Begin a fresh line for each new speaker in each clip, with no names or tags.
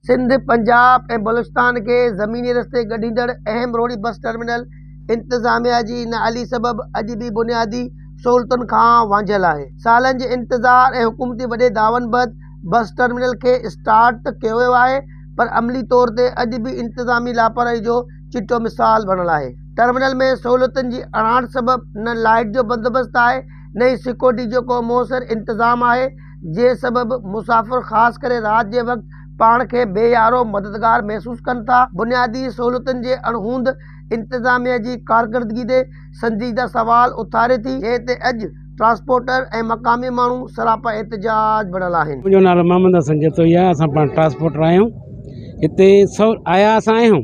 سنڌ، پنجاب ۽ بلوچستان کي زميني رستي ڳنڍيندڙ اهم روهڙي بس ٽرمينل انتظاميا جي نااهلي سبب اڄ به بنيادي سهولتن کان وانجهيل آهي. سالن جي انتظار ۽ حڪومتي وڏي دعون بعد بس ٽرمينل کي اسٽارٽ ته ڪيو ويو آهي پر عملي طور تي اڄ به انتظامي لاپرواهي جو چٽو مثال بڻل آهي. ٽرمينل ۾ سهولتن جي اڻاٺ سبب نه لائيٽ جو بندوبست آهي نه ئي سيڪيورٽي جو ڪو موثر انتظام آهي. جي سبب مسافر خاص ڪري رات جي وقت پاڻ کي بي يارو مددگار محسوس ڪن ٿا، بنيادي سهولتن جي اڻهوند انتظاميه جي ڪارڪردگي تي سنجيده سوال اٿاري ٿي، جنهن تي اڄ ٽرانسپورٽر ۽ مقامي ماڻهو سراپا احتجاج بڻيل آهن. منهنجو نالو محمد حسن
جتوئي آهي، اسان پاڻ ٽرانسپورٽر آهيون، هتي سو آيا اسان آهيون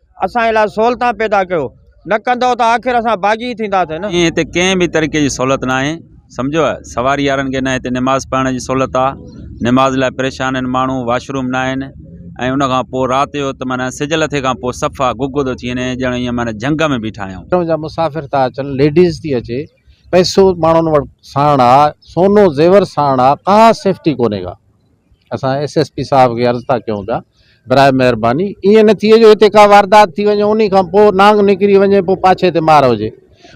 اسان لاء سهولتان پيدا ڪيو. نه ڪندؤ ته آخر اسان باغي ئي ٿينداسين نه. ائين هتي ڪنهن به طريقي
جي سهولت ناهي. سمجهيو. سواري وارن کي نه هتي نماز پڙهڻ جي سهولت آ. نماز لاء پريشان آهن ماڻهو. واش روم ناهن. ۽ ان کان پوء رات جو ته معنيٰ سج لٿي کان پوء صفا گگو ٿو ٿي وڃي ڄڻ ائين معنيٰ جهنگ ۾ بيٺا آهيون. جا مسافر ٿا اچن.
ليڊيز ٿي اچي. پئسو ماڻهن وٽ ساڻ آ. سونو زيور ساڻ آ. ڪا سيفٽي ڪونهي ڪا. اسان ايس ايس پي صاحب کي عرض ٿا ڪيون پيا براء مهرباني ائين نه ٿئي جو هتي ڪا واردات ٿي وڃي انهي کان پوء نانگ نڪري وڃي پوء پاڇي تي مار هجي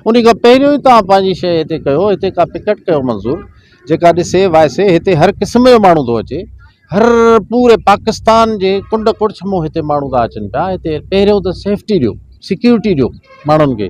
انهي کان پهريون ئي توهان پنهنجي شيء هتي ڪيو هتي ڪا پڪٽ ڪيو منظور جيڪا ڏسي وائسي هتي هر قسم جو ماڻهو ٿو اچي هر پوري پاڪستان جي ڪنڊ ڪڙڇ مون هتي ماڻهو ٿا اچن پيا هتي پهريون ته سيفٽي ڏيو سيڪيورٽي ڏيو ماڻهن کي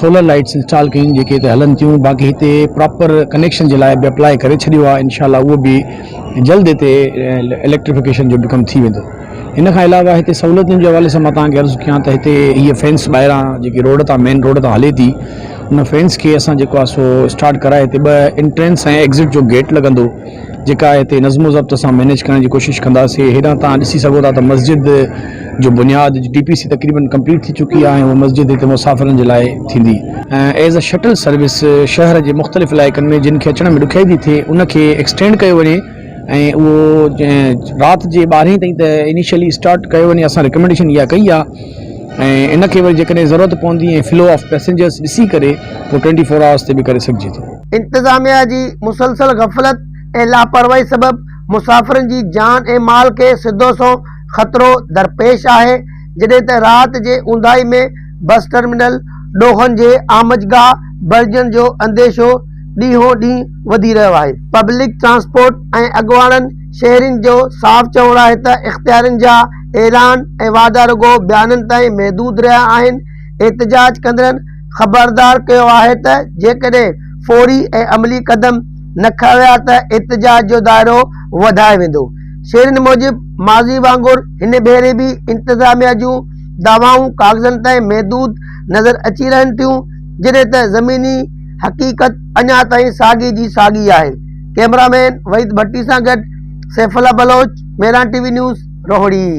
سولر لائيٽس انسٽال ڪيون جيڪي اتي هلن ٿيون باقي هتي پراپر ڪنيڪشن جي لاء به اپلاء ڪري ڇڏيو آهي انشاء الله اهو به جلد هتي اليڪٽريفڪيشن جو به ڪم ٿي ويندو ان کان علاوه هتي سهولتن جي حوالي سان مان توهان کي عرض ڪيان ته هتي هيء فينس ٻاهران جيڪي روڊ تان مين روڊ تان هلي ٿي ان فينس کي اسان جيڪو آهي سو اسٽارٽ ڪرائي هتي ٻه انٽرينس ۽ ايگزٽ جو گيٽ لڳندو جيڪا هتي نظم و ضبط سان مينيج ڪرڻ جي ڪوشش ڪنداسي هيڏانهن تان ڏسي سگهو ٿا ته مسجد جو بنياد جي ٽي پي سي تقريبن ڪمپليٽ ٿي چڪي آهي اها مسجد هتي مسافرن جي لاء ٿيندي ۽ ايز اي شٽل سروس شهر جي مختلف علائقن ۾ جن کي اچڻ ۾ ڏکيائي ٿي ٿئي ان کي ايڪسٽينڊ ڪيو وڃي ۽ اهو رات جي ٻارهين تائين ته انيشلي اسٽارٽ ڪيو وڃي اسان رڪمينڊيشن اها ڪئي آهي ۽ ان کي وري جيڪڏهن ضرورت پوندي ۽ فلو آف پيسينجرس ڏسي ڪري پوء ٽوئنٽي فور آورس تي به ڪري سگهجي ٿو. انتظاميا جي
مسلسل غفلت ۽ لاپرواهي سبب مسافرن جي جان ۽ مال کي سڌو سنئون خطرو درپيش آهي، جڏهن ته رات جي اونداهي ۾ بس ٽرمينل ڏوهن جي آمجگاهه بڻجڻ جو انديشو ڏينهون ڏينهن وڌي رهيو آهي. پبلڪ ٽرانسپورٽ ۽ اڳواڻن شهرين جو صاف چوڻ آهي ته اختيارين جا اعلان ۽ وعدا رڳو بيانن تائين محدود رهيا آهن، احتجاج ڪندڙن خبردار ڪيو آهي ته جيڪڏهن فوري ۽ عملي قدم نه کنيا ويا ته احتجاج جو دائرو وڌائي ويندو. شيرين موجب ماضي وانگر هن ڀيري به انتظاميا جون دعوائون ڪاغذن تائين محدود نظر اچي رهن ٿيون جڏهن ته زميني حقيقت اڃا تائين ساڳي جي ساڳي آهي ڪئميرا مين وحيد ڀٽي سان گڏ Saifullah Baloch, Miran T V news, Rohri.